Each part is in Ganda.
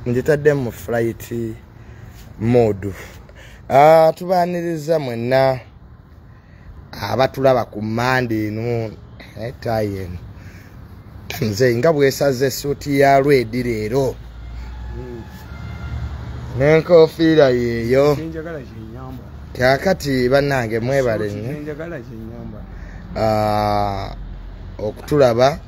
ngitadde mu flight modu ah, tubaniriza mwenna abatulaba ku manda eno eh, tayi eno nze nga bwesaza esuuti ya lwedi leero hmm. nenkofiira yeeyo kakati banange mwebale nyo ah, okutulaba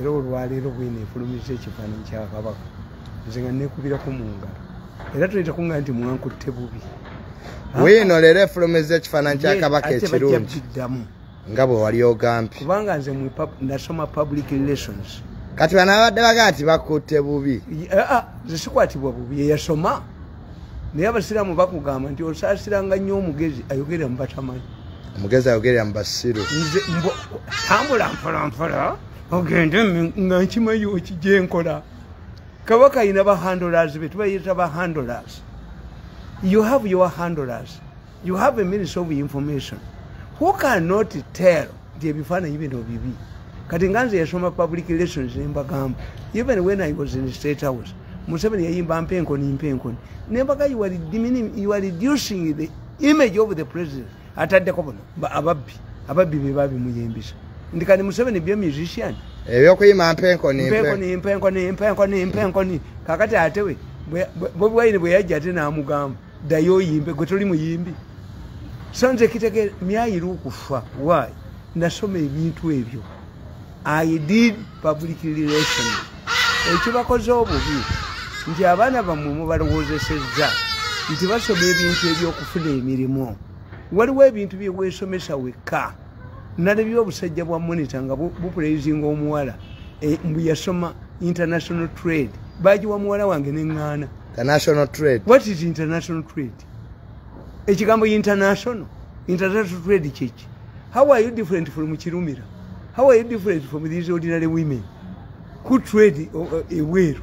era olwaleero bwena efulumiza ekifaananyi kya kabaka nze nga nekubirako mu ngalo era tuleeta kuŋŋaa nti mwankutte bubi wiino leero efulumiza ekifaananyi kya kabaka ekirungi nga bwe wali ogambye kubanga nze nasoma public relations kati banabadde baga nti bakutte bubi ah, ah, nze sikwatibwa bubi eyasoma naye abasiraamu bakugamba nti osaasiranga nnyo omugezi ayogerera mu batamanyi omugezi ayogerera mu basiru tambula mpolampola ogende nga nkimanyi okijenkola kabaka ayina bahandlers be tubayita bahandlers you have your handlers you have a ministry of information who cannot tell nti ebifaananyi bino bibi kati nga nze yasoma public relations nembagamba even when i was in state house museveni yayimba mpenkoni mpenkoni nembaga you are reducing the image of the president ataddeko buno ababbi ababbi bebabimuyimbisa ndi kani museveni byo musician ebyokuyima mpenkoni mpenkoni mpenkoni mpenkoni mpenkoni kakati atewe bobi wine bweyajja ate namugamba dayo oyimbe gwe toli muyimbi sanze kitegere myayira okufa why nasoma ebintu ebyo i did public relation ekyo bakoze obubi nti abaana bammwe mubalowoozesezza nti basoma ebintu ebyokufuna emirimu waliwo ebintu byeweesomesa wekka nalabye obusajja bwa monitor nga bupulaizinga omuwala e, mbu yasoma international trade bagiwa muwala wange neŋŋaana what is international trade ekigambo international international trade kyeki how are you different from kirumira how are you different from these ordinary women who trade uh, uh, eweeru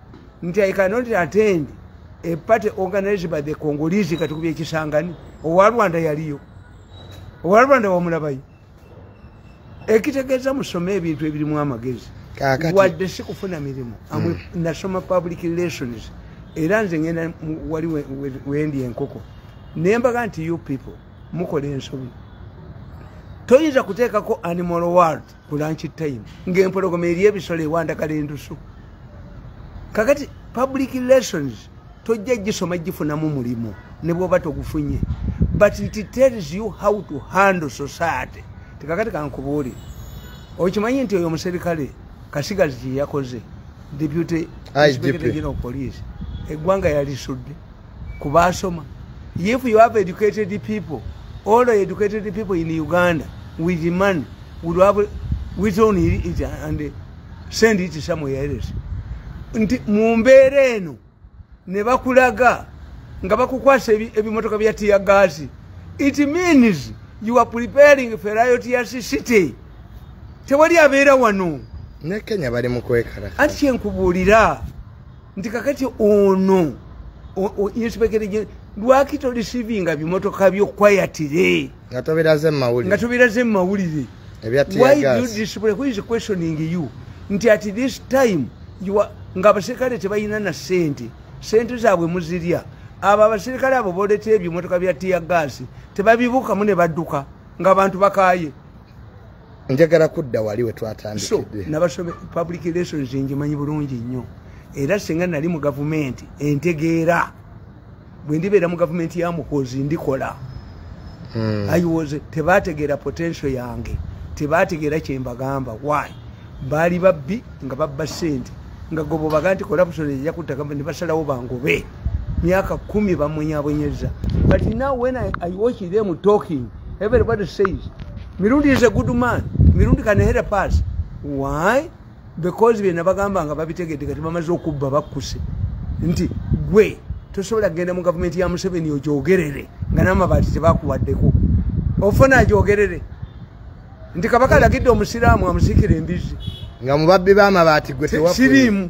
nti i cannot attend a party organized by the congolese kati kuba ekisangani owa rwanda yaliyo owa rwanda wamulabayo ekitegeeza musome ebintu ebirimu amagezi wadde si kufuna mirimu hmm. nasoma public relations era nze ngenda wali wendi enkoko naye mbaga nti you people mukola ensobi toyinza kuteekako animal world ku lunch time ng'empologoma eri ebisolo ewandagala endusu kakati public relations tojja gisoma gifunamu mulimu ne bwoba togufunye but it tells you how to handle society tekakati kankubuuli okimanyi nti oyo omuserikale kasigazi kyeyakoze deputy inspector general police eggwanga yalisudde ku basoma if you have educated people all the educated people in uganda with money would have withdrawn it and send it somewhere else nti mu mbeera eno ne bakulaga nga bakukwasa ebimotoka bya tiya gaasi it means you are preparing feriotiyas city tewali abeera wano nekenya bali mukwekalaa anti kyenkubuulira nti kakati ono inspekere lwaki tolisivinga bimotoka byo kwayatire nga tobiraze mumawulire nti at this time nga abaserikale tebalina na sente sente zaabwe muzirya abo abaserikale abo boletera ebimotoka bya tiya gaasi tebabibuukamu ne badduka ng'abantu bakaaye njagala kudda wali wetwatandikidde nabasobe public relations njimanyi bulungi nnyo era singa nali mu gavumenti entegeera bwe ndibeera mu gavumenti ya mukozi ndikola hmm. ayiwoze tebategeera potential yange tebategeera kyembagamba why baali babbi nga babba sente nga gobo baga nti corruption eja kutta gavumenti ne basalawo bangobe myaka kumi bamunyabonyeza but now when I, i watch them talking everybody says mirundi is a good man mirundi can help us why because byena bagamba nga babitegedde kati bamaze okubba bakkuse nti gwe tosobola kugenda mu gavumenti ya museveni ogyogerere nga n'amabaati tebakuwaddeko ofuna agyogerere nti kabaka alagidde omusiraamu amusikira embizi nga mubabbi bamabaati gwe siriimu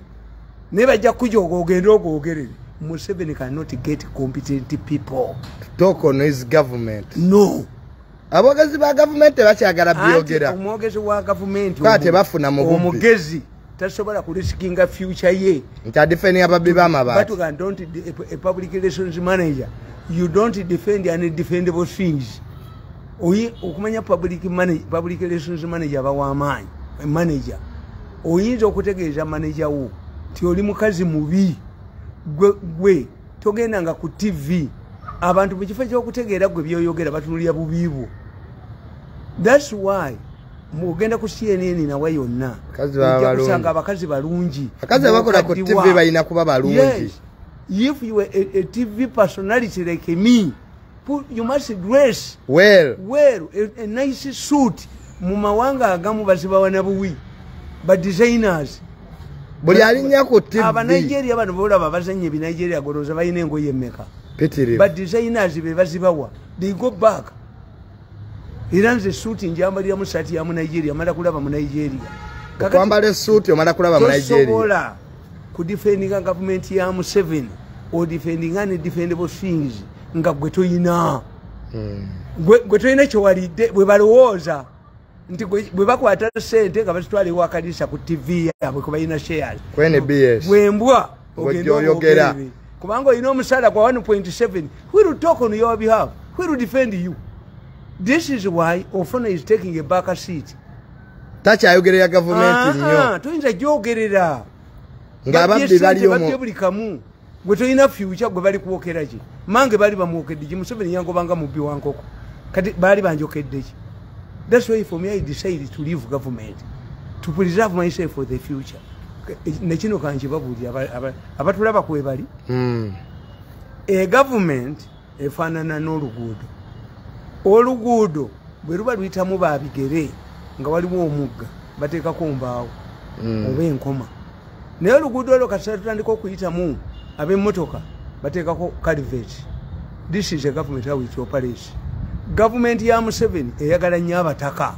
naye bajja kukujoga ogende ogwogerere museveni cannot get competent people talk on his government no abogezi ba gavumenti tebakyagala byogera omwogezi wa gavumenti tebafuna mugezi tasobola ku riskinga future ye nti adefendi ababbi bamabatiuga don't a public relations manager you don't defend any defendable things oyi okumanya public manager public relations manager bawamaanyi manager oyinza okutegeeza manager wo nti oli mukazi mubi gwe gwe togenda nga ku tv abantu mu kifo kyokutegeera gwe byoyogera batunulira bubi bwo thats why mugenda ku cnn nawe yonna kusanga abakazi balungi abakazi abakola ku tv balina kuba balungi if you were a, a tv personality like me you must dress well well a, a nice suit mu mawanga agamu bazibawa na buwi ba designers buli alinya ku tv aba nigeria bano bolaba bazanye bi nigeria goroza bayine ngo yemeka petere ba designers be bazibawa they go back iranze suit njamba ya musati ya mu nigeria mara kulaba mu nigeria kwambale suit omara kulaba mu nigeria sobola ku defending government ya mu seven or defending any defendable things nga gwe toyina hmm. gwe toyina kyewalidde bwe balowooza nti bwe bakwata sente nga bazitwala ewakanisa ku tv yabwe kubalina shares bwembwa ogendaoyogera kubanga olina omusaala gwa 1.7 will talk on your behalf will defend you this is why ofuna is taking a back seat takyayogerera gavumenti nyo ah, ah, tuyinza gyogerera ngaababbi baliomu gwe tolina fyukya gwe bali kwokera ki mange baali bamwokedde ki museveni yangobanga mubbi wa nkoko kati baali banjokedde ki thats why for me i decide to leave government to preserve myself for the future e, nekino kankibabuulira abatulaba kwebali hmm. e government efaanana n'oluguudo oluguudo bwe luba luyitamu babigere nga waliwo omugga bateekako mbaawo mm. oba enkoma naye oluguudo olwo kasita tutandika okuyitamu ab'emmotoka bateekako calivet this is a government how it operates gavumenti ya museveni eyagala nnyo abataka mm.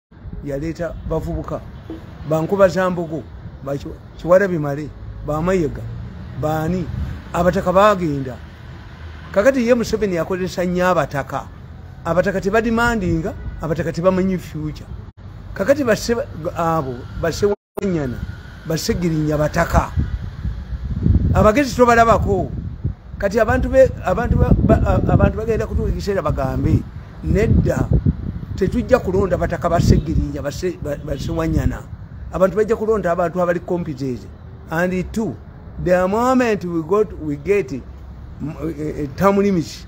yaleeta bavubuka bankuba za mbogo kiwala bimale bamayega baani abataka bagenda kakati ye museveni yakozesa nnyo abataka abataka tebadimandinga abataka tebamanyi future kakati abo base banyana basegirinya bataka abagezi tobalabako kati abantu bagenda kutuuka ekiseera bagambe nedda tetujja kulonda bataka basegirinya basewanyana abantu bajja kulonda abantu abali competence and two the moment we got we get eh, eh, term limits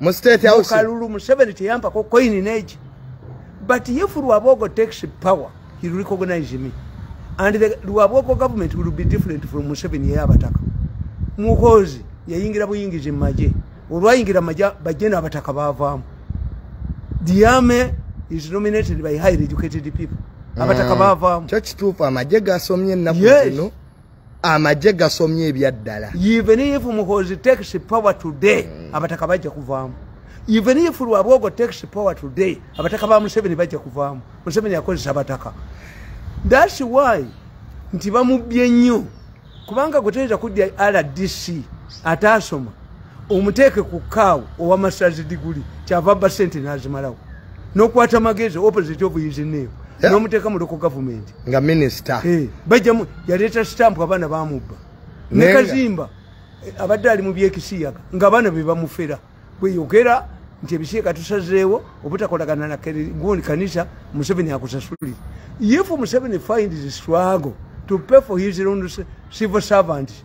mu state house kalulu museveni teyampako coin neji but if lwabogo takes power he will recognize me and the lwabogo government will be different from museveni yeye abataka muhozi yayingira buyingizi mu maje olwayingira maje bajje n'abataka baavaamu diame is nominated by highly educated people abataka mm. baavaamu kyo kituufu amagye gasomye ennaku zino amagye gasomye ebyaddala even if muhozi takes power today mm. abataka bajja kuvaamu even if lwabwogo takes power today abataka ba museveni bajja kuvaamu museveni akozesa abataka thats why nti bamubbye nnyo kubanga gwe toyinza kudya rdc ataasoma omuteeke ku kaawo owa masazi diguli kyava ba sente nazimalawo nokwata amagezi opposite of his name yeah. nomuteeka mu loko gavumenti nga minisita hey, eh, bajjamu yaleeta sitampu abaana bamubba nekazimba eh, abadde ali mu byekisiyaga nga abaana be bamufera bweyogera nti ebisiyaga tusazeewo obutakolagana na gundi kanisa museveni akusasulire if museveni find his struggle to pay for his own civil servants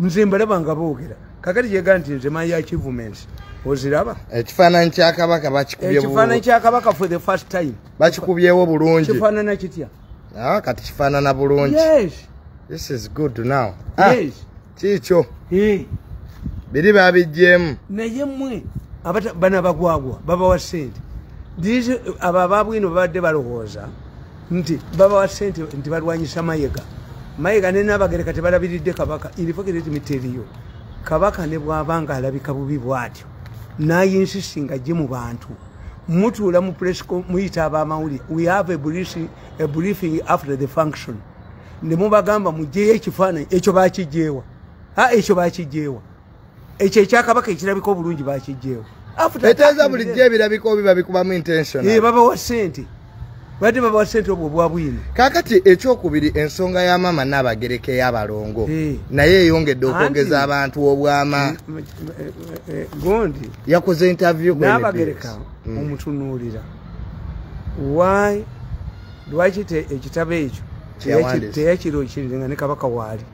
nze mbalaba nga boogera kakati kyega nti nze mayi achievements oziraba ekifaananyi kyakabaka bakikubyeifaananyi kyakabaka for the first time bakikubyewo bulungi kifaanana kitya ah, kati kifaanana bulungi yes this is good now ah, yes kiikyo biri babijjeemu naye mwe bana bagwagwa babawa sente abo ababwino babadde balowooza nti babawa sente nti balwanyisa mayega mayega nenabagereka tebalabiridde kabaka infogeretimiteriyo kabaka ne bwaba nga alabika bubi bwatyo nayinsisi nga gye mu bantu mutuula mu presco muyita abamawulire we have a briefing after the function ne mubagamba mugyeyo ekifaananyi ekyo bakijeewa a ekyo bakijeewa ekyo ekyakabaka ekirabika obulungi bakijjeewo eteeza bulijjo ebirabika obi babikubamu intention eh, babawa sente badde babawa sente obwo obwa bwino kakati ekyokubiri ensonga ya maama naabagereka eyabalongo eh. naye eyongedde okwogeza abantu obwama eh, gondi yakoze interview naabagereka mm. omutunuulira why lwaki ekitabo ekyo teyakirokirire nga ne kabaka waali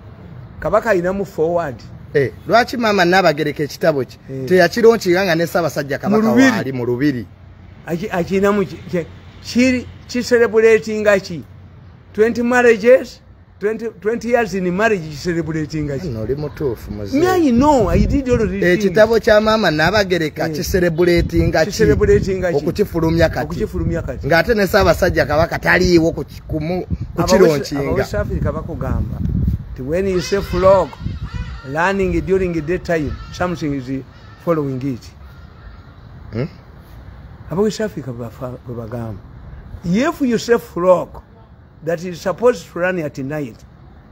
kabaka alinamu forward Hey, eh, lwaki mama nabagereka ekitabo ki hey. Eh. teyakironkiga nga ne sabasajja kabaka waali mu lubiri akinamu kiri kiserebulatinga ki 20 marriages 20, 20 years in marriage kiserebulatinga ki noli mutuufu muzei no i did all these eh, ekitabo kya mama nabagereka hey. kiserebulatinga ki okukifulumya kati okukifulumya kati ng'ate ne sabasajja kabaka taliiwo kumu kukiro nchinga aba west africa bakugamba ti when you say flog learning during the time something is following it hmm? aba west africa babagamba if you say flog that is supposed to run at night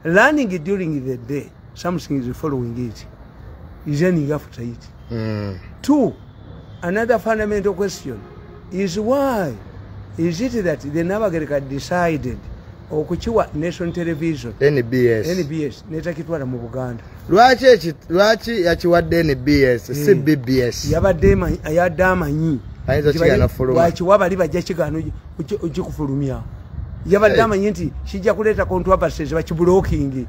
learning during the day something is following it is ending after it mm. two another fundamental question is why is it that the nabagereka decided okukiwa nation television nbs nbs netakitwala mu buganda lwaki eki lwaki yakiwadde nbs si eh. bbs yabadde yadde amanyi ayinza kiyanafuluma lwaki wabali bajja kigaano ojja kufulumya yabadde amanyi nti kijja kuleeta controversies bakibulokingi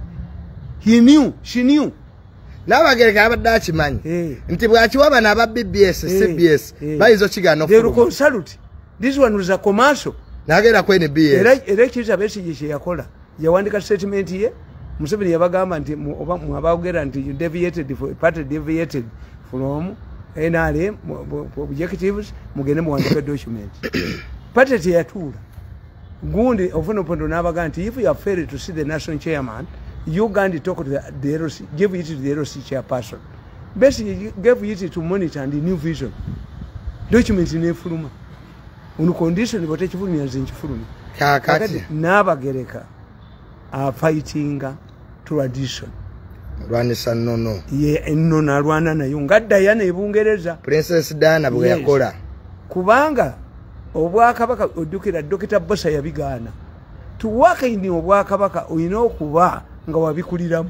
he knew she knew nabagereka yabadde akimanyi eh. nti bwakiwa bano aba bbs eh. cbs eh. bayinza okigana okufuluma this one was a commercial nagenda ku nbs era ekiriza besigye kyeyakola yawandika statement ye museveni yabagamba nti oba mwabagera nti you deviated for party deviated from nrm objectives mugende muwandika document party teyatuula gundi ofuna opondo nabaga nti if you are failed to see the national chairman you gandi talk to the, the LC, give it to the LC chairperson basically gave it to monitor and new vision document nefuluma on condition bwetekifulumya nze nkifulumya kakati nabagereka afightinga tradition lwanisa nono ye enono alwana nayo nga dayana ebungereza princess dana bweyakola yes. kubanga obwakabaka ojjukira dokita bosa yabigaana tuwakaini obwakabaka olina okuba nga wabikuliramu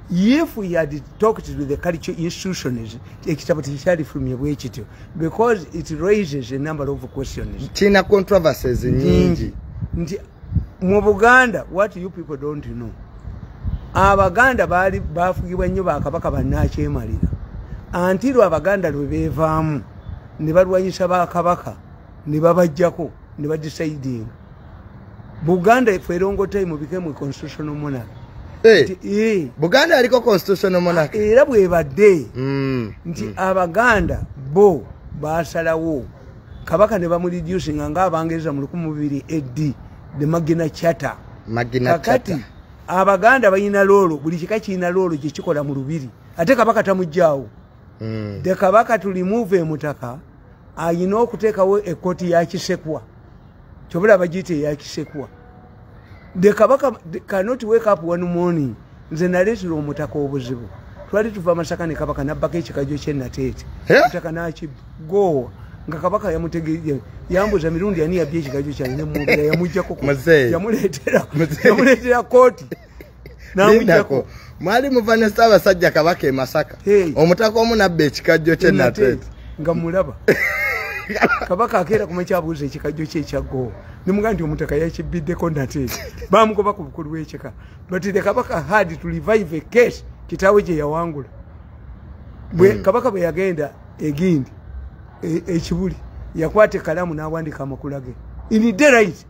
if he had talked to the culture institutions ekitabo tekyalifulumye bwe kityo because it raises a number of questions kirina controversies nyingi nti mu buganda what you people don't know abaganda baali bafugibwa nnyo bakabaka bannakyemalira antiru abaganda lwe beevaamu ne balwanyisa bakabaka ne babajjako ne badisaidinga buganda efe erongotai mubikemu constitutional monarch eh, eh. buganda aliko constitutional monarch era bwebadde mm, nti mm. abaganda bo basalawo kabaka ne bamureducinga nga abangereza mu lukumu bibiri ed the magina chata kakati abaganda balina loolo buli kika kirina loolo kyekikola mu lubiri ate kabaka tamugjawo mm. de kabaka tulimuva emutaka ayina okuteekawo ekoti yakisekwa kyobula abajiyita eyakisekwa the kabaka cannot wake up one morning nze naleetera omutaka obuzibu twali tuva amasaka ne kabaka nabbako ekikajo kyenateete eh? mutaka nakigoowa nga kabaka yamutegee yambuza mirundi ani yabya ekikajo kyange nemwogera yamujjako yamuleetera kooti namujako mwali muva ne ssaabasajja kabaka e masaka omutaka omu nabba ekikajjo kye nateeta nga mulaba kabaka akeera kumakyabuuza ekikajjo kye ekyaggoo nemuga nti omutaka yakibbiddeko nate bamugoba ku bukulu bwekika but the kabaka had to revive a case kitaawe gye yawangula hmm. kabaka bwe yagenda egindi e, ekibuli yakwata ekalamu n'awandika amakula ge in the right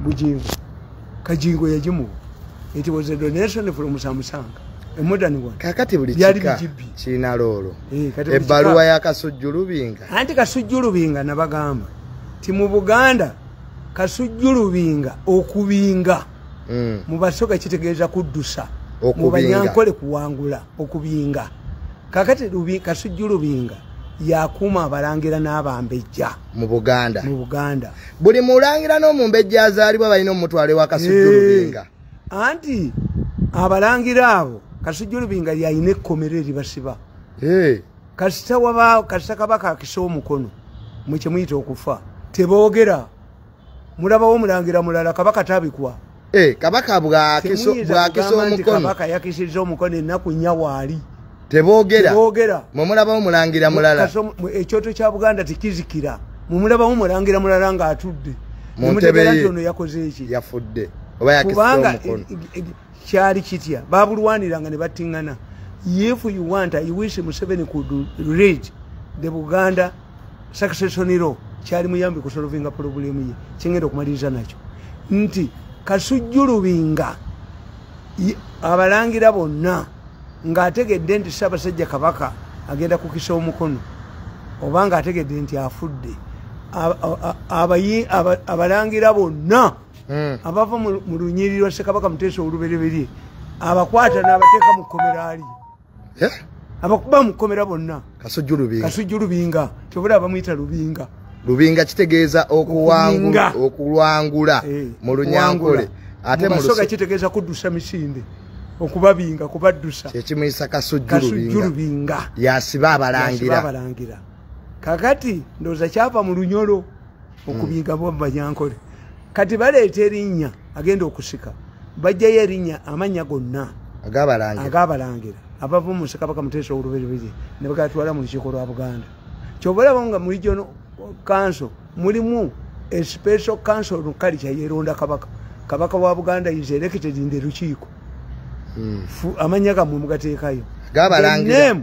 bujingo kajingo yajimu it was a donation from samusanga kakati buli kika kirina loolo eh, ebbaluwa ya kasujju lubinga anti kasujju lubinga nabagamba ti mu buganda kasujju lubinga okubinga mm. mu basoga kitegeeza kuddusa mu banyankole kuwangula okubinga kakati kasujju lubinga yakuuma abalangira n'abambejja mu buganda mu buganda buli mulangira n'omumbejja azaalibwa balina omutwalo ewa kasujju lubinga anti abalangira abo kasujju lubinga yalina ekkomero eribasiba kasita wabaawo kasita kabaka akisa omukono mwe kyemuyita okufa teboogera mulabawo omulangira mulala kabaka tabikwa eh, kabaka bwakisa omukono kabaka yakisiza omukono ennaku nnya waali tebogera mwe mulabawo mulangira mulala ekyoto kya buganda tekizikira mwe mulabawo mulangira mulala ng'atudde muntebeye nti ono yakoze eki yafudde oba yakisiza omukono e, e, e, kyali kitya babulwaniranga ne battingana if you want i wish museveni could read the buganda succession law kyali muyambi ku solvinga problem ye kyengenda okumaliriza nakyo nti kasujjulubinga abalangira bonna ng'ategedde nti ssaabasajja kabaka agenda kukisa omukono oba ng'ategedde nti afudde abalangira bonna hmm. abava mu lunyiriri lwa ssekabaka muteesa olubereberye abakwata n'abateeka mu kkomeraali eh? abakuba mukomera bonna kasujju lubinga kyobula abamuyita lubinga lubinga kitegeeza okulwangula eh, mu lunyankole ate musoga kitegeeza kuddusa misinde okubabinga kubaddusa kyekimuyisa kasujju lubinga yasiba abalangira kakati ndowooza kyava mu lunyolo okubiga bwabba gyankole kati baleeta erinnya agenda okusika bajjayo erinnya amannya gonna agabalangira abava mu nsekabaka muteesa oluberebere ne bagatwala mu lukiiko lwa buganda kyova olaba nga mu region council mulimu especial council nukali kyayeronda kabaka kabaka wa buganda is elected in the lukiiko hmm. amannya gamwe mugateekayo gabalangira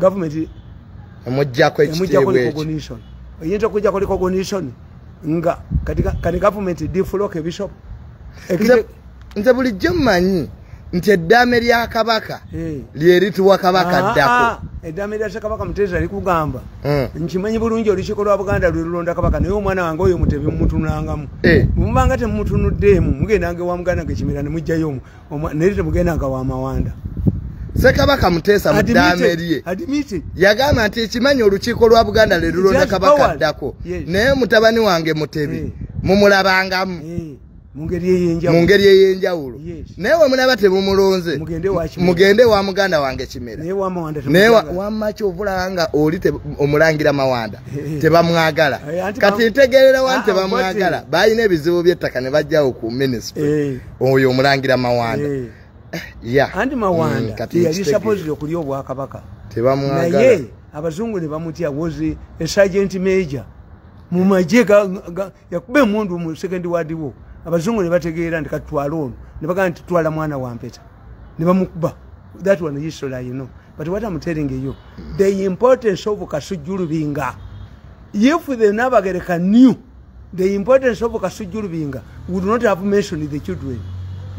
government emujjako ekitiibwa ekyo oyinza okujjako recognition nga kati government defloke bishop nze bulijjo mmanyi nti eddaame lya kabaka eh. lyerituwa kabaka ah, ddako ah, eddaame lya kabaka muteesa likugamba eh. nkimanyi bulungi olukiiko lwa buganda lwe lulonda kabaka naye omwana wange oyo mutebe mumutunangamu eh. mubanga temumutunuddeemu mugendanga ewa muganda ngekimera ne mujjayo omu naye temugenda nga wamawanda sekabaka muteesa mudamerye yagamba nti ekimanyi olukiiko lwa buganda lelulonda kabaka addako naye mutabani wange mutebi eh. mumulabangamu eh. mu ngeri ey'enjawulo naye wemulaba temumulonze mugende wa muganda wange kimera naye wamaki ovulaba nga oli omulangira mawanda eh, eh. tebamwagala eh, kati ntegerera wani ah, tebamwagala balina ebizibu by'ettaka ne bajjawo ku minisitule oyo omulangira mawanda eh. Eh, andi mawanda mm, yali sapozi okulya obwakabaka naye abazungu ne bamutya was a sergeant major mu magye yakuba emundu mu second ward wo abazungu ne bategeera nti katutwala ono ne bagamba nti twala mwana wa mpeta ne bamukuba that one history you know but what am telling you the importance of kasujulubinga if the nabagereka new the importance of kasujju lubinga would not have mentioned the children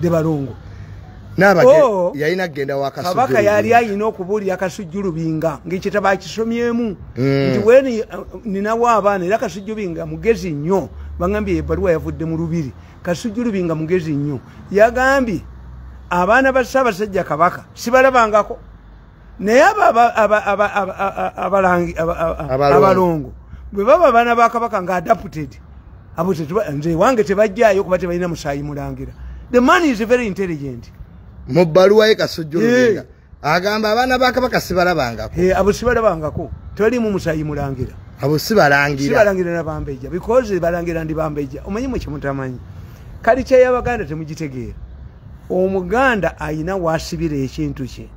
the balongo oh, yalina kugenda wakabaka yali ayina okubuulira kasujju lubinga ngaekitabo akisomyemu mm. nti weni uh, ninawo abaana era kasujju binga mugezi nnyo bagambye ebaluwa yavudde mu lubiri kasujju lubinga mugezi nnyo yagambye abaana ba ssaabasajja kabaka sibalabangako naye abalangi abalongo bwe baba abaana ba kabaka nga adapted abo nze wange tebajjayo kuba tebalina musaayi mulangira the man is very intelligent mu bbaluwa ye kasujjulugenga agamba abaana ba kabaka sibalabangako abo sibalabangako tebalimu musaayi mulangira abo sibalangirasibalangira nabambeja because balangira ndi bambeja omanyi mwe kyemutamanyi kali kyeyabaganda temugitegeera omuganda ayina wasibira ekintu kye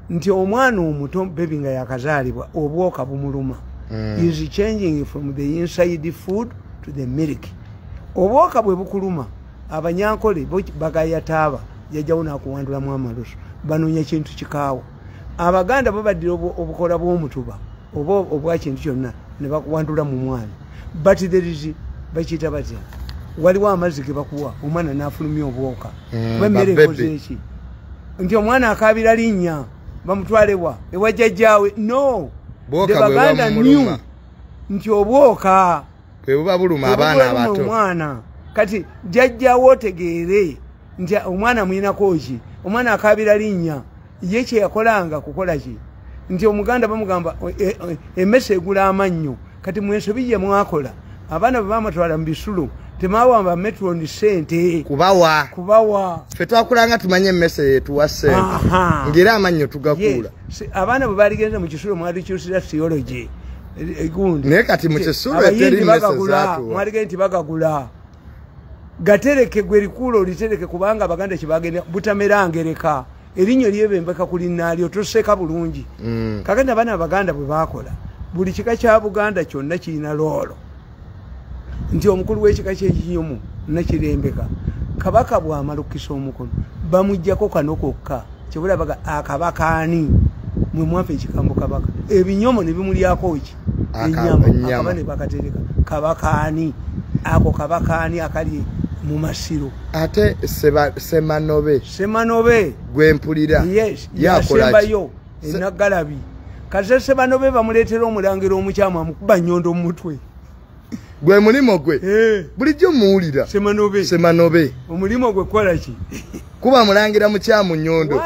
nti omwana omuto bebi nga yakazaalibwa obwoka bumuluma mm. is changing from the inside food to the milk obwoka bwe bukuluma abanyankole bagayataaba jajawo nakuwandulamu amalusu banoonya kintu kikaawa abaganda babaddira obukola bw'omutuba oba obwakintu kyonna ne bakuwandula mu mwana but there is bakiyita batya waliwo amazzi ge bakuwa omwana n'afulumya obwoka hmm, kuba emmere ekoze eki nti omwana akaabira linnya bamutwalewa ewajjajjaawe no the baganda new nti obwoka bwebuba buluma abaana abato omwana kati jajjawo otegeere nti omwana muyinako ki omwana akabira linnya ye kyeyakolanga kukola ki nti omuganda bamugamba e, e, emese egula amannyo kati mwensobi gye mwakola abaana bwe bamatwala mu bisulo temawamba metroni sente kubawa kubawa fe twakulanga tumanye emmese yetuwa sente ngeri amannyo tugakuula abaana bwe baligenze mu kisulo mwalikyusira theology egundi naye kati mukisulo eteri meseza mwalige nti bagagula gatereke gwe likuula olitereke kubanga abaganda kyebagenda butamera ngereka erinnyo lyebembeka ku linnaalyo toseeka bulungi mm. kaganda abaana abaganda bwe baakola buli kika kya buganda kyonna kirina loolo nti omukulu w'ekika kyekinyomu nakirembeka kabaka bwamalukisa omukono bamujjako kano kokka kyebulabaga akabaka ani mwe mwafa ekikambo kabaka ebinyomo ne bimulyako ki enyama akaba ne bakatereka kabaka ani ako kabaka ani akali mu masiro ate semanobe semanobe gwempulira yes yasembayo enagalabi kasese bano be bamuleetera omulangira omukyamu amukuba nyondo mu mutwe gwe mulimu gwe eh. bulijjo muwulira semanobe semanobe omulimu gwe kukola ki kuba mulangira mukyamu nyondo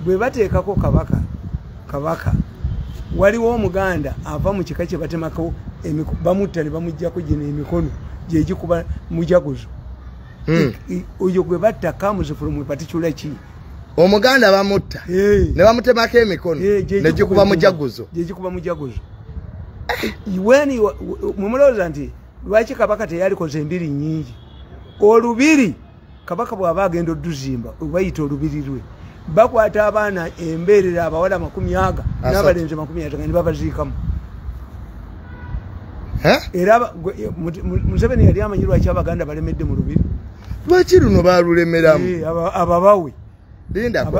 bwe bateekako kabaka kabaka waliwo omuganda ava mu kika kye batemako bamutta ne bamuggyako gino emikono gyegikuba mujaguzo Hmm. oyo gwe batta kamuze from a particular ki omuganda bamutta ne bamutemako emikono negikuba mujaguzo gyegikuba mujaguzo weni mumulowooza nti lwaki kabaka teyalikoze embiri nyingi olubiri kabaka bwaba agenda oduzimba obayita olubiri lwe bakwata abaana embeerera abawala makumi aga n'abalenzi makumi ataga ne babaziikamu era museveni yali amanyi lwaki abaganda balemedde mu lubiri lwaki luno balulemeramu ababawe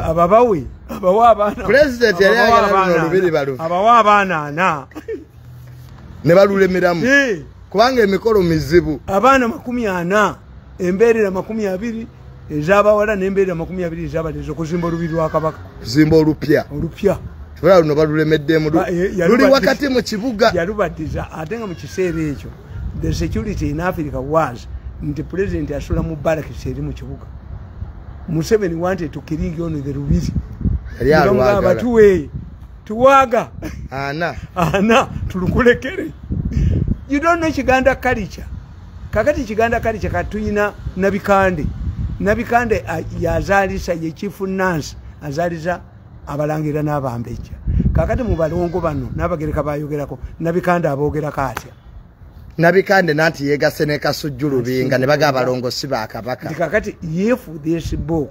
ababawe abawa abaana pulezidenti yali ayagala luno lubiri balubi abawa abaana ana ne balulemeramu kubanga emikolo mizibu abaana makumi ana embeerera makumi abiri ezabawala nembeera makumi abiri ezabalezi okuzimba olubi lwa kabaka kuzimba olupya olupya tebala luno balulemeddemu eh, luli wakati mu kibuga yalubatiza ate nga mu kiseera ekyo the security in africa was nti pulezidenti asula mu barakisi eri mu kibuga museveni wante tukiringi ono the lubiri abatuwe tuwaga ana ana tulukulekere you don't know kiganda culture kakati kiganda kali kyekatuyina nabikande nabikande yazalisa yekifu nansi azaliza abalangira n'abambejja kakati mu balongo bano n'abagereka bayogerako nabikande abogerako atya nabikande nanti yegase ne kasujju lubinga ne baga abalongo si ba kabaka kakati if this book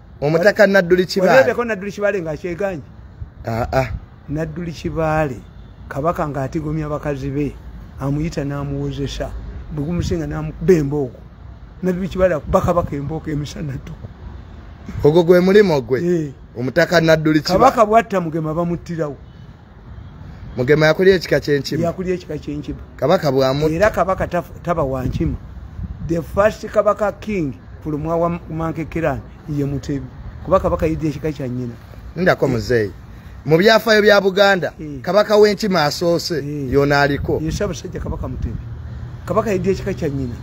omutaka nadduli kibaaleeko nadduli kibaale nga kyeganye aa ah, ah. nadduli kibaale kabaka ng'atigomya bakazi be amuyita n'amuwozesa bwegumusinga n'amukuba embooko nadduli kibaale akuba kabaka embooko emisana ttuku ogwo gwe mulimu gwe eh. omutaka nadduli kabaka bwatta mugema bamuttirawo mugema yakulya ekika kyenkima yakulya ekika kyenkima kabaka bwamu era kabaka taba wankima the first kabaka king fulumwa wa mankekerani ye mutebi kuba kabaka yidde ekika kya nyina ndako eh. muzeeyi mu byafaayo bya buganda eh. kabaka w'enkima asoose eh. yona aliko yesabasajja kabaka mutebi kabaka yidde ekika kya nyina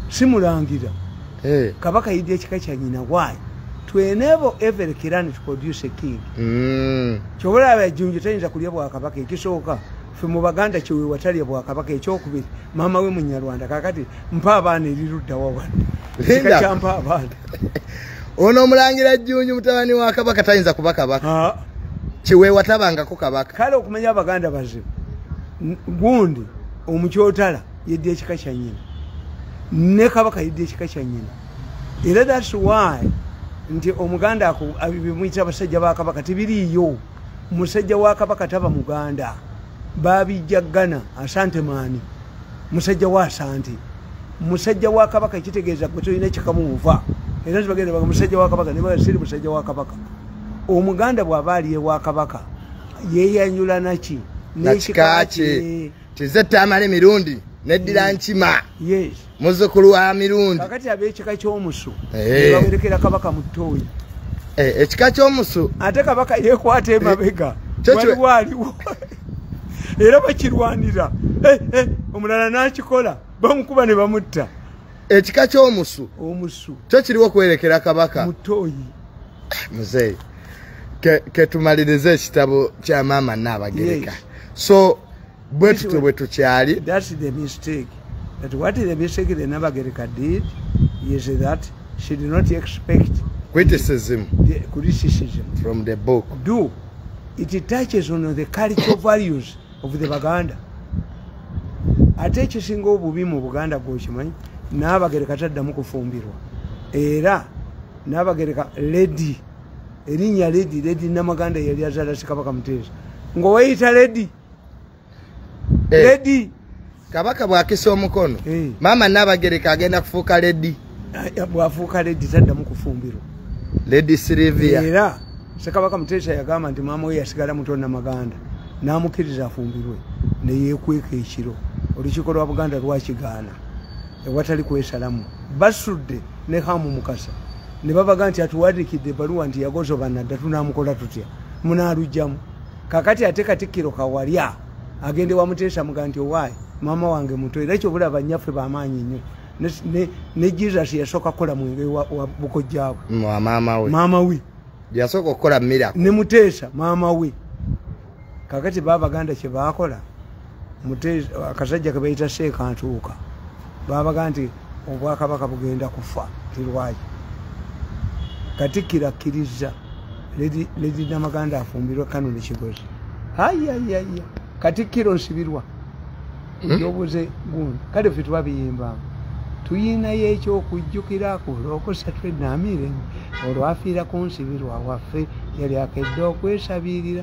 simulangira hey. Eh. kabaka yidde ekika kya nyina why to enable every kiran to produce a king mm. kyobola abajunju tayinza kulya bwa kabaka ekisooka fe mu baganda kyewe watalya bwa kabaka ekyokubiri maama we munyarwanda kakati mpa abaana erirudda wawano kika kyampa abaana ono omulangira jjunju mutabani wa kabaka tayinza kuba kabaka kiwewatabangako kabaka kale okumanya abaganda bazibu gundi omukyotala yedde ekika kya nyina ne kabaka yedde ekika kya nyina era thats why nti omuganda bimuyita abasajja ba kabaka tebiriiyo musajja wa kabaka taba muganda babijja ghana asante maani musajja wa asante musajja wa kabaka ekitegeeza gwe tolina kikamuuva era tibagenda baga musajja wa kabaka nebaga siri musajja wa kabaka omuganda bw'aba aliye wa kabaka yeeyanyula naki nekika kye kize tamale mirundi neddira mm. nkima muzukulu wa mirundi kakati abekika kyomusu eh. bawerekera kabaka mutoyi eh, ekika kyomusu ate kabaka yekwata emabega eh, waliwo aliwo era bakirwanira omulala nakikola bamukuba ne bamutta ekika kyomusu omusu kyo kiriwo kwerekera kabaka mutoyi muzeeyi ketumaliriza ekitabo kya maama naabagereka so bwe tutyo bwe tukyali criticism criticism from the book do it touches on the cultural values of the baganda ate ekisinga obubi mu buganda gwokimanyi naabagereka taddamu kufumbirwa era nabagereka ledi erinya ledi ledi namaganda yali azala sikabaka muteesa ngoweyita ledi eh. ledi kabaka bwakisa omukono eh. maama nabagereka agenda kufuuka ledi eh, bwafuuka ledi taddamu kufumbirwa ledi silivia era sekabaka muteesa yagamba nti maama we yasigala muto namaganda namukkiriza afumbirwe neyekweka ekiro olukiiko lwa buganda lwakigaana ewatali kwesalamu basudde ne hamu mukasa ne babaga nti atuwadikidde ebaluwa nti yagozobanadda tunamukola tutya munalujjamu kakati ate katikkiro kawalya agende wamuteesa muga nti owaayi maama wange muto era kyobulaba nyaffe bamaanyi nnyo ne jesus yasooka kukola mwenge wa bukojjaabwe maama we yasooka okukola mira ne muteesa maama we kakati baabaganda kye baakola akasajja kebayita seeka ntuuka babaga nti obwakabaka bugenda kufa tirwaki katikkiro akkirizza ledi namaganda afumbirwa kano nekigozi ayayaya katikkiro nsibirwa hmm? ekyobuze gundi kale fe twabiyimbamu tuyinayo ekyokujjukirako olwokusatu enamiire olwafiira ku nsibirwa waffe yali akedde okwesabirira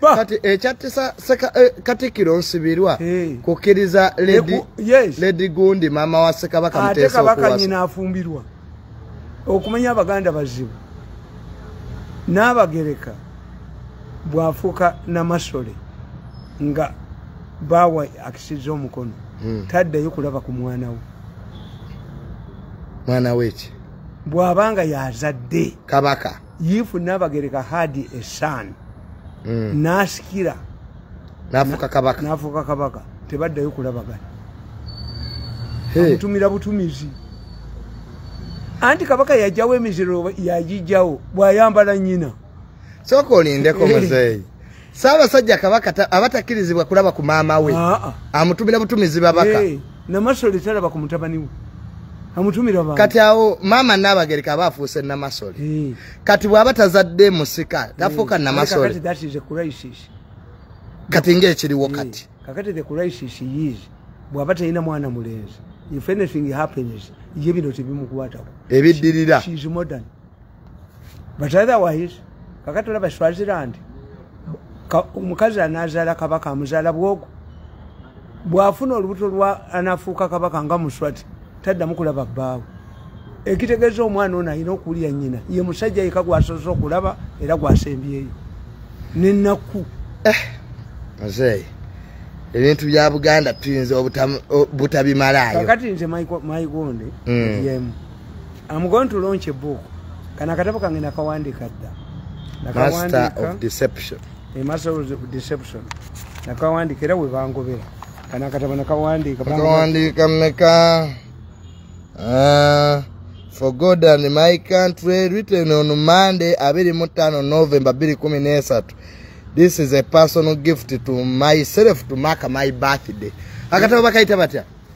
kati ekyatisa eh, katikiro nsibirwa kukiriza ledi gundi mama wa sekabaka muteesaokuwasaafumbirwa okumanya abaganda bazibu n'abagereka bwafuuka namasole nga baawa akisiza omukono hmm. taddayo kulaba ku mwana we mwana weki bw'aba nga yazadde kabaka if nabagereka had a son mm. nasikira nafuka kabaka nafuka kabaka tebaddayo kulabagana amutumira hey. butumizi anti kabaka yajawo emiziro yajijawo bwayambala nyina soka olindeko muzeeyi Ssaabasajja Kabaka aba takkirizibwa kulaba ku maama we ah, ah. amutumira butumizi babaka eh, namasole talaba ku mutabani we amutumira ba kati awo maama Nnaabagereka aba afuuse namasole eh. kati bw'aba tazadde musika tafuuka eh, namasole kati ng'ekiriwo kati kakati the crisis is bw'aba talina mwana mulenzi if anything happens ye bino tebimukwatako ebiddirira but otherwise kakati olaba swaziland omukazi anazaala kabaka amuzaala bwogo bwafuna olubuto lwa anafuuka kabaka nga muswati taddamu kulaba bbaawe ekitegeeza omwana ono alina okuwulira nyina ye musajja yeka gwasoose okulaba era gwasembyeyo nenakku eh, muzeeyi ebintu bya buganda tuyinza obutabimalayo kakati nze maigonde mm. yemu I'm going to launch a book. Kana katabo kange nakawandika dda. Master of deception. A master of deception. Nakawandika era we bangobera. Kana katabo nakawandika. Nakawandika meka. Uh, for God and my country written on Monday, abiri mutano November biri kumi nesatu. This is a personal gift to myself to mark my birthday. Akatabo bakaita batya.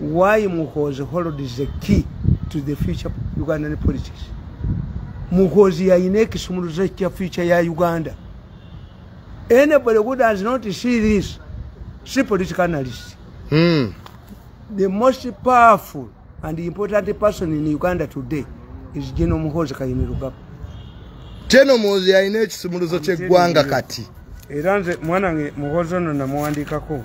why muhozi hold is the key to the future ugandan politics muhozi yayina ekisumuluzo ekya future ya uganda anybody who does not see this si political analyst mm. the most powerful and important person in uganda today is general muhozi kayinirugaba general muhozi yayina ekisumuluzo kyeggwanga kati era nze mwanange muhozi ono namuwandikako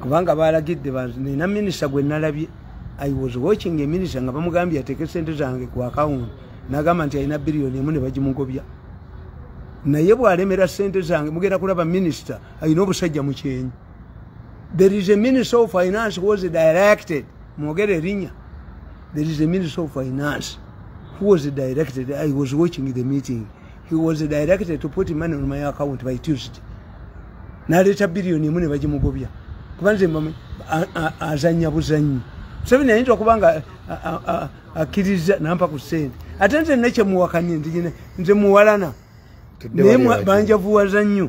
kubanga balagidde nina minisita gwe nalabye i was watching a minisita nga bamugambye ateeke sente zange ku akawunti nagamba nti alina biliyoni emu ne bagimugobya naye bwalemera sente zange mugenda kulaba minisita alina obusajja mu kyenyi there is a minister of finance was directed mwogere erinya there is a minister of finance who was directed i was watching the meeting he was directed to put money on my account by tuesday naleeta biliyoni emu ne bagimugobya kuba nze azanya buzanyi museveni ayinza okuba nga akkiriza nampa ku sente ate nze nekyemuwakanye nze muwalana naye banjavuwaza nnyo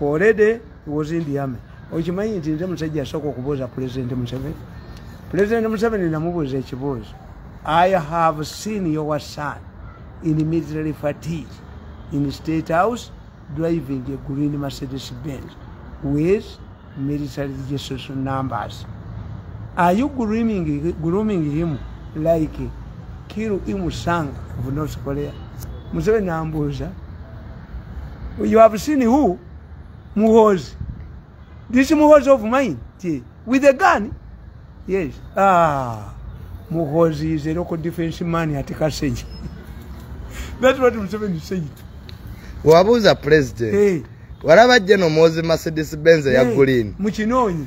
already was in the army okimanyi nti nze musajja asooka okubuuza pulezidenti museveni pulezidenti museveni namubuuza ekibuuzo i have seen your son in military fatigue in state house driving a green mercedes benz with military registration numbers are you grooming, grooming him like kiru imusanga of north korea museveni ambuuza you have seen who muhozi this muhozi of mine yeah. with a gun yes ah muhozi is a local defense man at kasenyi that's what museveni said wabuuza president hey. walaba jeno muhozi mercedes benz hey. ya green mukinonyi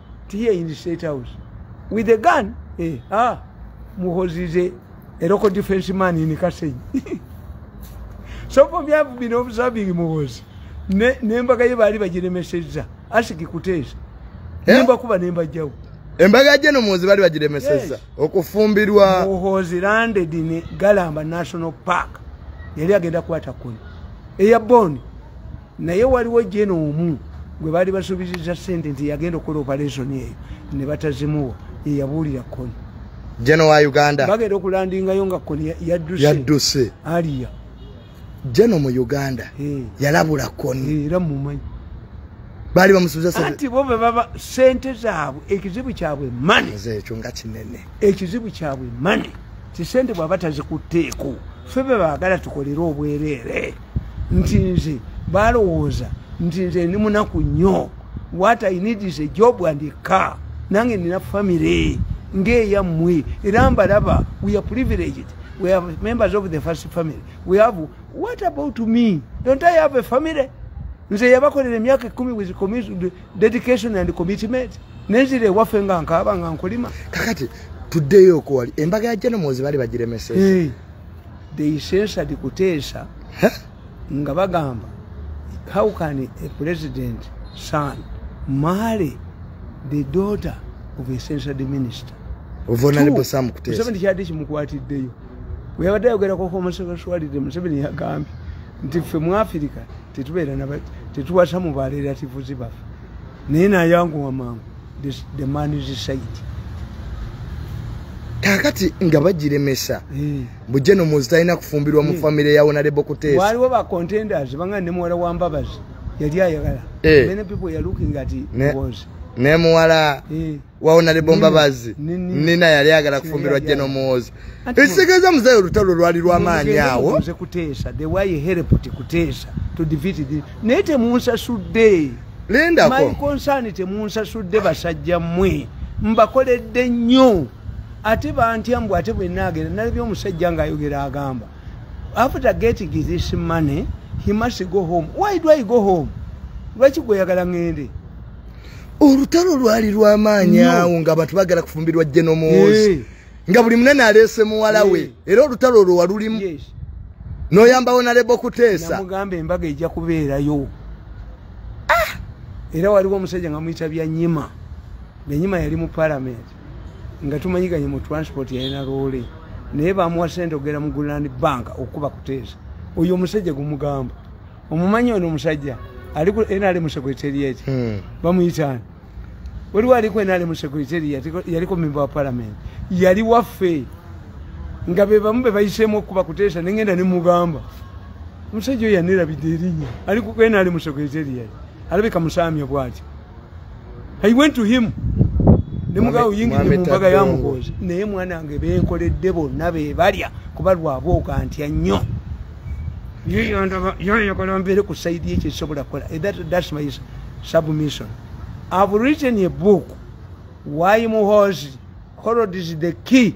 to here in the state house with a gun eh, ah, muhozi is a, a local defense man in kasenyi so for me i've been observing muhozi nembaga ye baali bagiremesezza asiki kuteesa eh? nemba kuba nemba jawu embaga je no muhozi baali bagiremesezza okufumbirwa muhozi landed in galamba national park yali agenda kwata kuni eya boni naye waliwo jena omu gwe baali basuubiziza sente nti yagenda okukola operation eyo ne batazimuwa yeyabuulira koni jena wa uganda bagenda okulandingayo nga koni yadduse aliya jena mu uganda eh. yalabula koni eh, era mumanyi baali bamusuubizaati bo bebaba sente zaabwe ekizibu kyabwe mane ekyo nga kinene ekizibu kyabwe mane tisente bwaba tazikutteeko ffe be baagala tukolere obwereere nti nze balowooza nti nze ndi munaku nnyo what i need is a job and a car nange nina family ngeeyammwe era mbalaba we are privileged we have members of the first family we have what about me don't i have a family nze yabakolera emyaka ekumi with dedication and commitment nenzira ewaffe nga nkaaba nga nkulima kakati tuddeyo okuwali embaga ya jenomozi bali bagiremeseza they censored kuteesa nga bagamba how can a president son marry the daughter of a censored minister museveni kyadde kimukwatiddeyo weyabadde ayogerako homosexuality museveni yagambye nti ffe mu afirika tetubeera tetuwasa mu barelatives baffe naye nayanguwa mangu the man is said kakati nga bagiremesa eh. bujje nomuzi talina kufumbirwa mu eh. famire ya onarebo kuteesa waliwo ba contenders banga ne muwala wa mbabazi yali ayagala eh. many people are looking at it was ne muwala wawona ne bomba bazi nina yali agala kufumbirwa jeno muwozi ekisegeeza muzayi olutalo lwali lwamaanyi awo nze kuteesa the way helped kuteesa to defeat this naye temunsasudde lindako my concern temunsasudde basajja mwe mbakoledde nnyo ate bantya mbu ate bwenaagera nalabye omusajja ngaayogera agamba after getting this money he must go home why do i go home lwaki gweoyagala ngende olutalo lwali lwamaanyi awo nga abantu bagala kufumbirwa jenomozi eh. nga buli munene aleese muwala we eh. era olutalo olwo walulimu noyambawo naleba okuteesamugamba embaga ejja kubeerayo ah! era waliwo omusajja nga muyita bya nyima benyima yali mu palamenti nga tumanyiganye mu transport yalina loole naye bamuwa sente okugera mu guland bank okukuba kuteesa oyo omusajja gumugamba omumanyi ono omusajja ali ku nrm secretariat hmm. bamuyitaani waliwo ali ku nrm secretariat yaliko memba wa palamenti yali waffe nga bebamu bebayiseemu okukuba kuteesa nengenda nemugamba omusajja oyo yanirabidde erinya ali ku nrm secretariat alabika musaamya bwatyo i went to him nemugaa oyingiza mu mbaga ya muhoozi naye mwana wange benkoledde bonna bebalya kuba lwaba okantya nnyo yoyagala mbeere ku saidi ekyo ekisobola kukola eh, thats my submission ive written a book why muhoozi holod is the key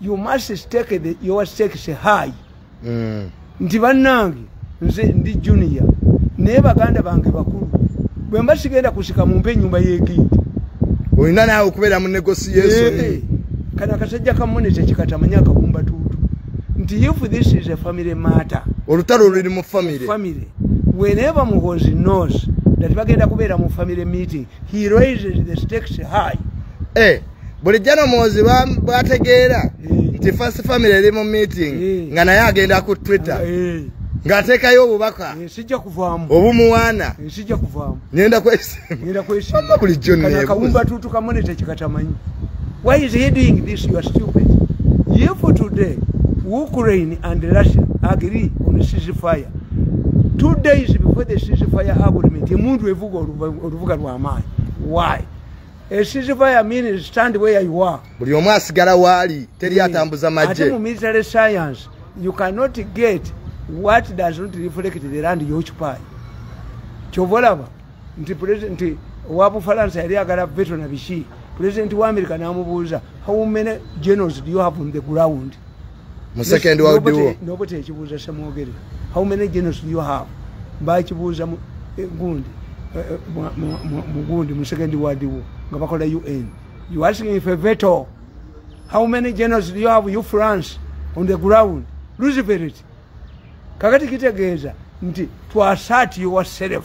you must stake the, your stakes high mm. nti bannange nze ndi junior naye baganda bange bakulu bwe mba sigenda kusika mumpe enyumba yegindi olina naawe okubeera mu negotiation hey, eh, kana kasajja kamune tekikatamanya akabumba tuutu nti if this is a family matter olutalo luli mu family family whenever muhozi knows that bagenda kubeera mu family meeting he raises the stakes high hey. Eh. bulijjo no muwozi bwategeera nti first family eri mu meeting nga naye agenda ku twitter ng'ateekayo obubaka eh, sijja kuvaamu obumuwaana eh, sijja kuvaamu ngenda kwesimba kwesimba bulijjo neekawumba tuutu kamone tekikatamanyi why is he doing this you are stupid ye for today ukraine and russia agree on sisi fire two days before the sisi fire agreement emundu evuga oluvuga lw'amaanyi why esiziva ya mini stand where you are buli omu asigala waali teri atambuza maje ate mu military science you cannot get what does not reflect the land you occupy kyova olaba nti president wa bufalansa yali agala veto na biki president wa america namubuuza how many generals do you have on the ground mu second world war nobo tekibuuza samwogere how many genocide you have bakibuuza mu eh, gundi eh, eh, mu gundi mu second world war nga bakola un you asking if a veto how many genocide you have you france on the ground luciferit kakati kitegeeza nti twasat yourself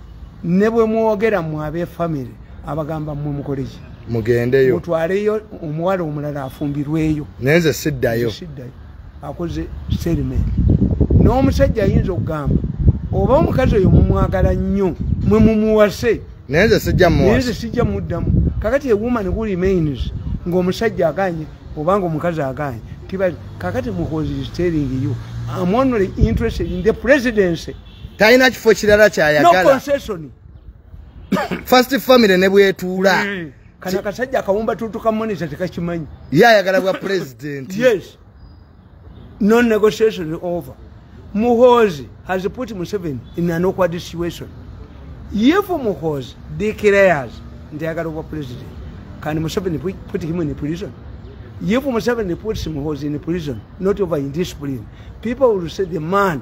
ne bwe mwogera mwe abefamire abagamba mwe mukoleki mugendeyo mutwaleyo omuwala omulala afumbirweyo naye nze siddayo siddayo akoze serimenti n'omusajja ayinza okugamba oba omukazi oyo mumwagala nnyo mwe mumuwase naye nze sijja muwase nze sijja muddamu kakati a woman who remains ng'omusajja aganye oba ng'omukazi aganye tibali kakati muhozi is telling you am only interested in the presidency talina kifo kirala kyayagala first family ne bwetuula hmm. kana kasajja akawumba tutu ka monitor tekakimanyi ye ayagala bwa president yes no negotiation over muhozi has put museven in an awkward situation if muhozi declares nti ayagala obwa president can museven put him in prison if museven puts muhozi in prison not over indiscipline people will say the man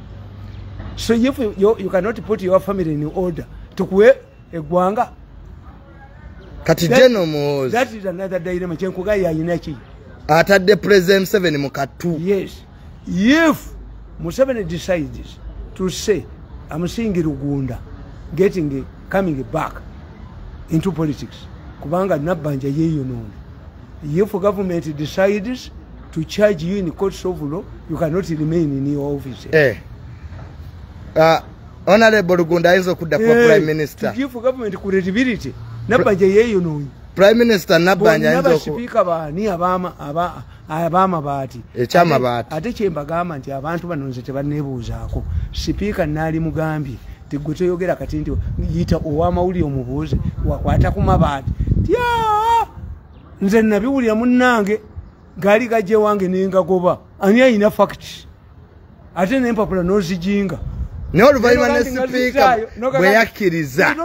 so if you, you, you cannot put your family in order tukuwe egwanga kati jeno muhozi that is another dilemma kyenkuga yayina ki atadde president museveni mu katu yes if museveni decides to say amusingi lugunda getting coming back into politics kubanga nabbanja yeeyonoona if government decides to charge you in court of law you cannot remain in your office eh. uh, honorable lugunda ayinza okudda kuba eh, prime minister to give government credibility nabanja yeyonoonyi prime minister nabanja ayinza okubasipiika baani abamabaati ekyamabaati ate kyembagamba nti abantu bano nze tebanebuuzaako sipiika naali mugambye tegwe toyogera kati nti yita owamawulire omubuuze wakwata ku mabaati tya nze nabiwulira munange gaali gajja ewange nengagoba ani ayina fakiti ate nempapula nozijinga naye oluvanyuma ne sipiika bwe yakkiriza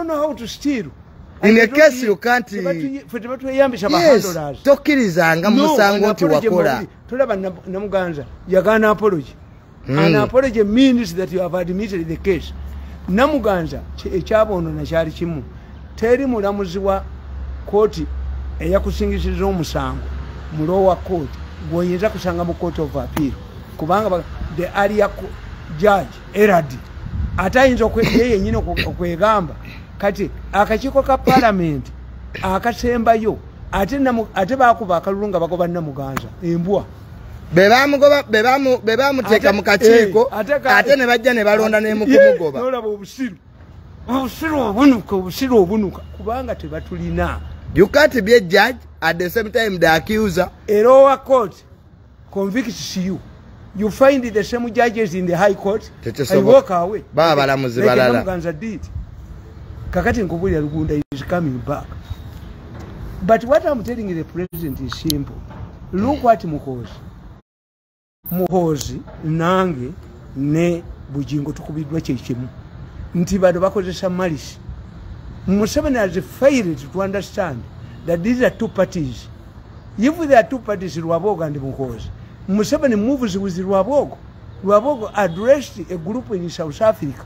tokkirizanga musango nti wakola tolaba namuganza yagaana apologi mm. an apology means that you have admitted the case namuganza ekyabonona kyali kimu teri mulamuzi wa kooti eyakusingisiza omusango mulowa kooti gwoyinza kusanga mu kooti of appeal kubanga the aria judge eradi ate ayinza ye yenyini okwegamba kati akakiiko ka palamenti akasembayo ate bakuba akalulu nga bagoba namuganza embwa bebamugoba bebamu bebamuteka mukakiiko eh, ate ne bajja ne balonda ne mukumugoba nolaba obusiru obusiru obunuka obusiru obunuka kubanga tebatulina you can't be a judge at the same time the accuser a lower court convicts you you find the same judges in the high court and walk away baba balamuzi balala kakati nkubulira lugunda is coming back but what am telling the president is simple look what muhoozi muhoozi nange ne bujingo tukubiddwa kyekimu nti bano bakozesa malisi museveni has failed to understand that these are two parties if there are two parties lwabogo and muhoozi museveni moves with lwabogo lwabogo addressed a group in south africa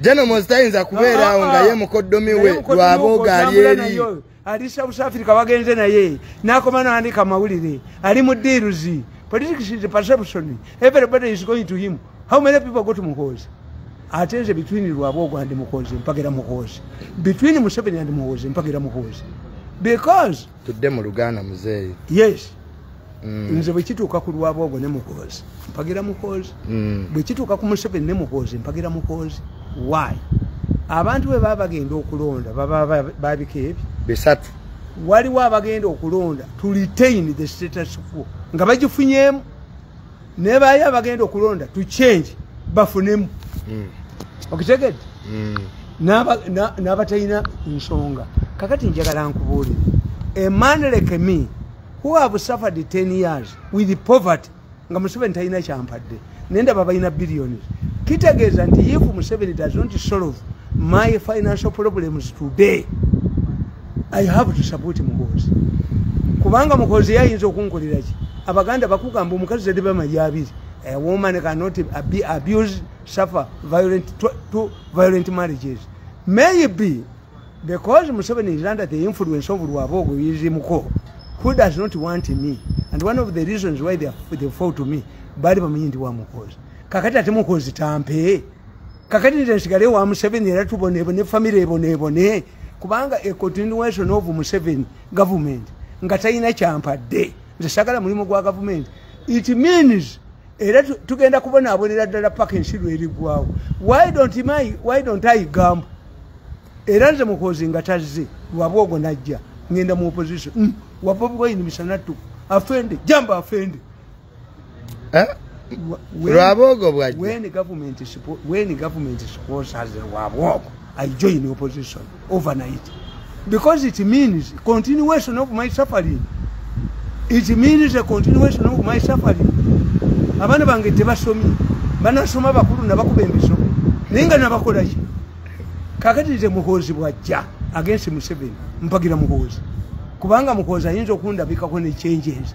Jeno mozitayinza kubeeraawo nga ye mukoddomi we lwabooga ali eri alisa busafiri kabagenze naye nakoma nandika mawulire ali mu diiruzi politics is perception everybody is going to him how many people go to muhoozi ate nze between lwaboogo and muhoozi mpagera muhoozi between museveni and muhoozi mpagera muhoozi because tudde mu luganda muzeeyi yes mm. nze bwekituuka ku lwabwogo ne muhoozi mpagira muhoozi mm. bwekituuka ku museveni ne muhoozi mpagira muhoozi why abantu bwe baba bagenda okulonda baba babika ebyo bisatu waliwo abagenda okulonda to retain the status quo nga bagifunyemu naye bayo abagenda okulonda to change bafunemu mm. okitegedde mm. n'abatalina nsonga kakati njagala nkubuulire a man like me who have suffered 10 years with poverty nga museveni talina kyampadde naye ndaba balina billioni kitegeeza nti if museveni does not solve my financial problems today i have to support muhoozi kubanga muhoozi yayinza okunkoliraki abaganda bakugamba omukazi zade bamayi abiri a woman cannot be abused suffer violent to, to violent marriages maybe because museveni is under the influence of lwabogo yizimuko who does not want me and one of the reasons why they, are, they fall to me bali bamanyi ndi wa muhoozi kakati ate muhoozi tampee kakati nze nsigale wa museveni era tubonebone famire ebonebone kubanga a continuation of museveni government nga talina kyampadde nze sagala mulimu gwa gavumenti it means era tugenda kubonaabonera ddala paka ensi lwerigwawo why don't my why don't i gamba era nze mukozi nga tazze lwaba ogwo najja ngenda mu opposition mm. wabobwoyini misanattu afende jamba afende eh? lwabogo bwajjawen government sponsors lwabogo i join opposition overnight because it means continuation of my suffering it means a continuation of my suffering abaana bange tebasomye banasoma bakulu nabakuba emisomo naye nga nabakolaki kakati nze muhoozi bwajja agensi museveni mpagira muhoozi kubanga muhoozi ayinza okundabikako nekyenjenzi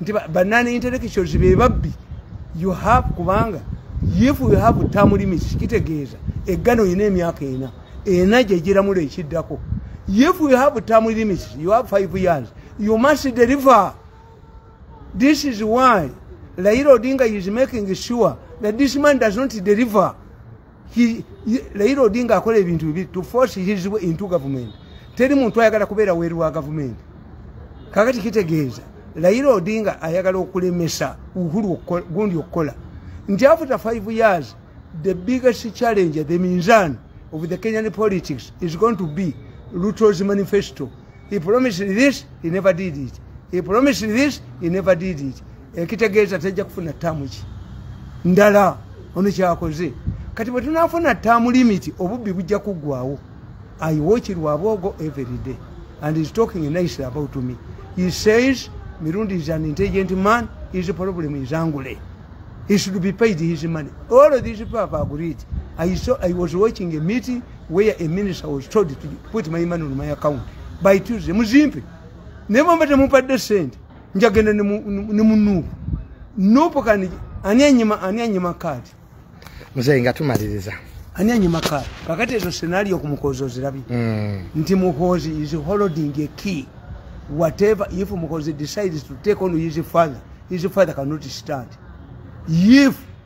nti banani intellectuals be babbi you have kubanga if you have term limits kitegeeza eggana olina emyaka ena ena gyegiramulo ekiddako if you have term limits you have five years you must deliver this is why laira odinga is making sure that this man does not deliver Raila Odinga akola ebintu bibiri to force his way into government. Teri muntu ayagala kubeera weru wa government. Kakati kitegeeza Raila Odinga ayagala okulemesa Uhuru gundi okukola. Nti after five years the biggest challenge the minzan of the Kenyan politics is going to be Ruto's manifesto. he promised this he never did it he promised this he never did it ekitegeeza tejja kufuna taamu ki ndala ono kyakoze kati bwe tunafuna taamu limiti obubbi bujja kuggwawo i watch lwabwogo every day and is talking nicely about me he says mirundi is an intelligent man his problem is angule he should be paid his money all of these people have agreed i saw i was watching a meeting where a minister was told to put my money on my account by Tuesday muzimpe naye bwemba temupadde sente njagenda ne mu nuupu nuupu kani ani anyima ani anyima kaadi muzeyi nga tumaliriza ani anyima kaadi kakati ezo senario kumukozi ozirabye mm. nti mukozi is holding a key whatever if mukozi decides to take on his father his father cannot stand if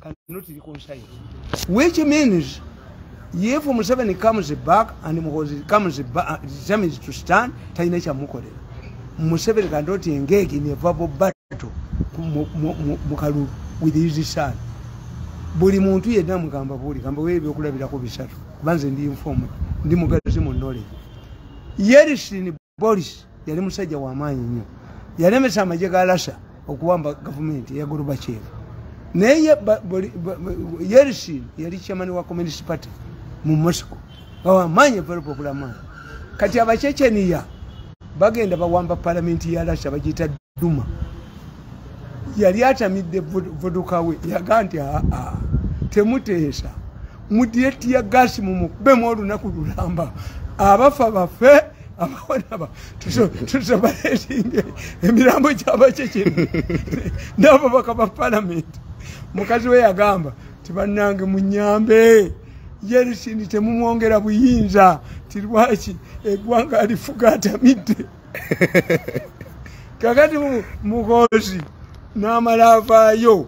cannot reconcile. Which means if Museveni comes back and Muhozi comes back, uh, determines to stand, Taina Chamukorela. Museveni cannot engage in a verbal battle Mukalu with his son. Buli muntu yena mkamba buli, kamba wewe kula bila kubisatu. Banze ndi informed, ndi mugazi mu knowledge. Yeri sini boris yali musajja wamaanyi nnyo yalemesa amagye ga lasa okuwamba gavumenti eya gorbachev naye yerisin yali chairman wa communist party mu moscow awamaanyi evalupa okulamaa kati abachecheniya bagenda bawamba palamenti ya lasa bagita duma yali atamidde vodoka we yaga nti aa temuteesa mudire tiya gasi mumukubemu olunaku lulamba abafa bafe abawanaba tusobaletinge emirambo gyabakyekino nabo baka ba palamenti mukazi we yagamba ti bannange munyambe yerisini temumwongera buyinza ti lwaki egwanga alifuga atamidde kakati muhoozi n'amala avaayo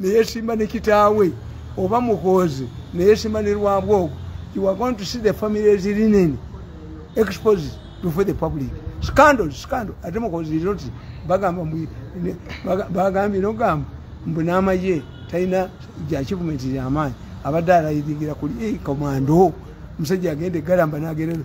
neyesimba ne kitaawe oba muhoozi neyesimba ne lwabwogo you are going to see the families linen exposed before the public scandal scandal ate muhoozi noti bagamba bagambye nogamba mbu n'amaye talina gyakivumenti lyamaanyi abadde alayiringira kuli komando eh, musajja agenda egalamba nagenda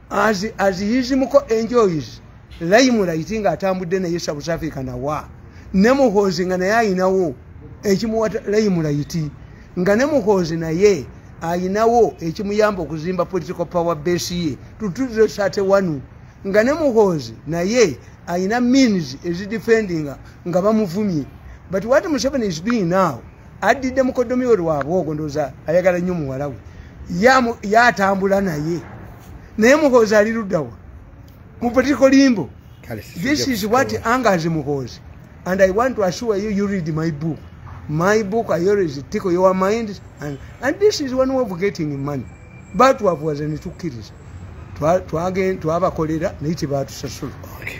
as, as his muko enjoys laimu laiti nga atambudde naye south africa nawa ne muhoozi nga naye ayinawo ekimuwa laimu laiti nga ne muhoozi naye ayinawo ekimuyamba okuzimba political power base ye tutuze sate wanu nga ne muhoozi naye ayina means ezidefendinga nga bamuvumye but what museveni is doing now addidde mukoddomi we lwabwe ogwo ndooza ayagala nnyo muwala we yatambula naye naye muhoozi ali luddawa mu political limbo this is what angers muhoozi and i want to assure you you read my book my book i always tickle your mind and, and this is one way of getting money but what was in two kids to again to have a cholera native out sasula okay